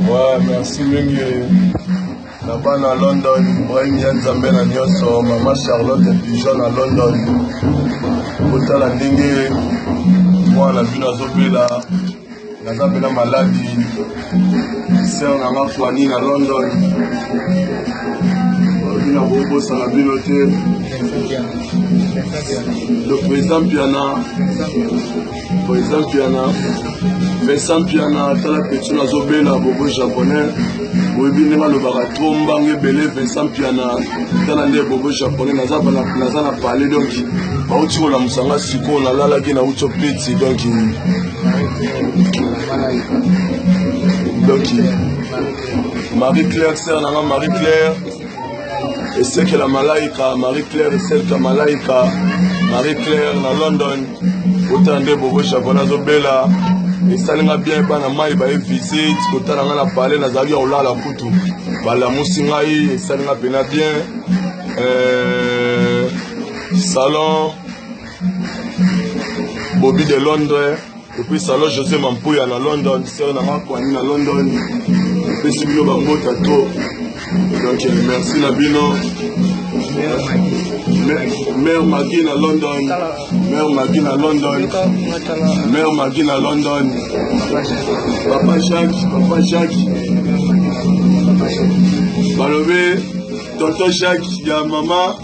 Ouais, merci mingi na bana london ibrahim ya nzambe na nyonso mama charlotte pigeon na london kotala ndenge mwana bino azobela naza mpena maladi ser na nga fani na london bino akobosana bino te le président mpiana President Mpiana, Vincent Mpiana, tala petit na zobela bobo japonais. Boyebi ndenge alobaka trop mbanga ebele Vincent Mpiana, tala nde bobo japonais naza na naza na palais donc bauti kolamusa nga sikoyo nalalaki na uti opeti donc donc Marie Claire sœur na nga Marie Claire esekela malaika marie claire eselka malaika marie claire na london kotala nde bobo jacola azobela esali nga bien bana mai baye visite kotala nga na pale nazalaki ya kolala kutu balamusi ngai esali nga mpena bien euh, salon bobi de londres Depuis salon José Mampuya na London, sœur na nga Kwani na London, pesi bino ba mota trop. Donc euh, merci na bino. Mère Maggie na London, Mère Maggie na London, Mère Maggie na London, Papa Jacques, Papa Jacques, balobi Tonton Jacques ya mama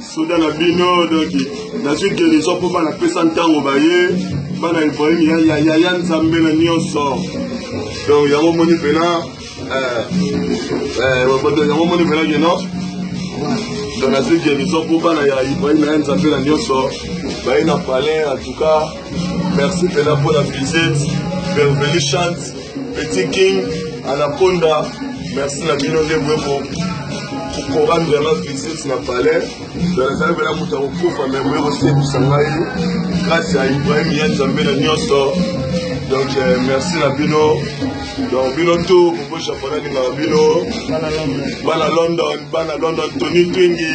soda na bino donc nazwi guérison mpo bana pesa ntango baye bana ibrahim yaya nzambe na nyonso donc yango moni mpena euh, euh, yango moni mpena keno donc nazwi guérison mpo bana ya ibrahim yaya nzambe na nyonso baye na palais en tout cas merci mpena mpo na visite verveli chante Petit King, Anaconda, merci na bino nde boye ko kokora vraiment visite na palais nazali mpena moto ya kokufa me boye kosepisa ngai grâce ya ibrahim ya nzambe na nyonso donc euh, merci na bino donc bino to bobo japon alingaka bino bana london bana london tony twingi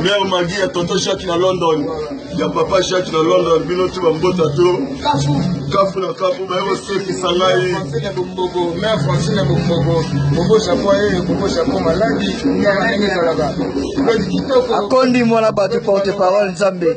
mère magi ya tonto jacques na london ya papa jacques na london bino ti bambota to kafu na kafu baye kosekisa ngai akondi mwana bato porte parole nzambe